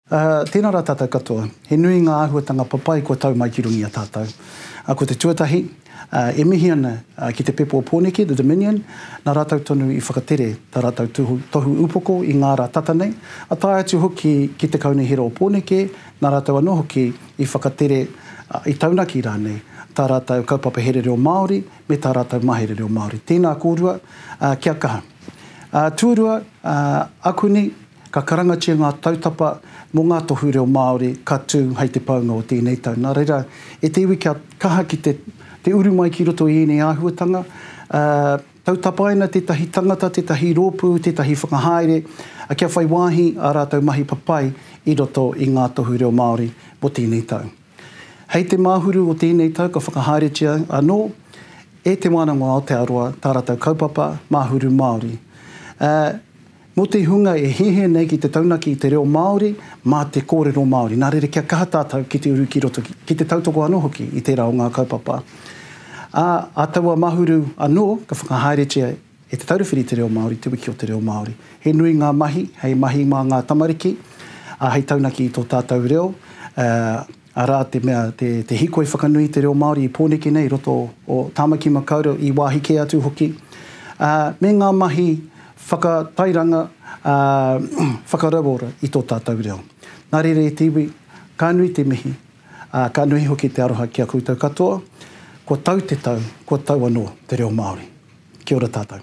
Aa, tēnā rā tātou katoa. He nui ngā āhuatanga papai kua tau mai ki runga i a tātou. Aa, ko te tuatahi, aa, e mihi ana ki te pepo o Pōneke, the Dominion, nā rātou tonu i whakatere tā rātou tuhu, tohu upoko i ngā rā tata nei, a tae atu hoki ki te Kaunihera o Pōneke, nā rātou anō hoki i whakatere, aa, i taunaki rānei tā rātou kaupapa here reo Māori me tā rātou mahere reo Māori. Tēnā kōrua, aa, kia kaha. Aa, tuarua, aa, akuni, Ka karangatia ngā tautapa mō ngā tohu reo Māori ka tū hei te paunga o tēnei tau. Nā reira, e te iwi kia kaha ki te te uru mai ki roto i ēnei āhuatanga, ā, tau tapaina tētahi tangata, tētahi rōpū, tētahi whakahaere, ā, kia whai wāhi ā rātou mahi papai i roto i ngā tohu reo Māori mō tēnei tau. Hei te Māhuru o tēnei tau ka whakahaeretia anō e Te Wānanga o Aotearoa tā rātou kaupapa Māhuru Māori, ā, Mō te hunga e hehe nei ki te taunaki i te reo Māori mā te kōrero Māori, nā reira kia kaha tātou ki te uru ki roto, ki te tautoko anō hoki i tērā o ngā kaupapa. Ā, ā taua mahuru anō, ka whakahaeretia e Te Taura Whiri te Reo Māori, Te Wiki o te Reo Māori. He nui ngā mahi, hei mahi mā ngā tamariki, ā, hei taunaki i tō tātou reo, ā, arā, te mea, te hīkoi whakanui i te reo Māori i Pōneke nei i roto o Tāmaki Makaurau, i wāhi kē atu hoki, ā, me ngā mahi whakatairanga, ā, whakarauora i tō tātou reo. Nā reira e te iwi, ka nui te mihi, ā, ka nui hoki te aroha ki a koutou katoa, kua tau te tau, kua tau anō te reo Māori. Kia ora tātou.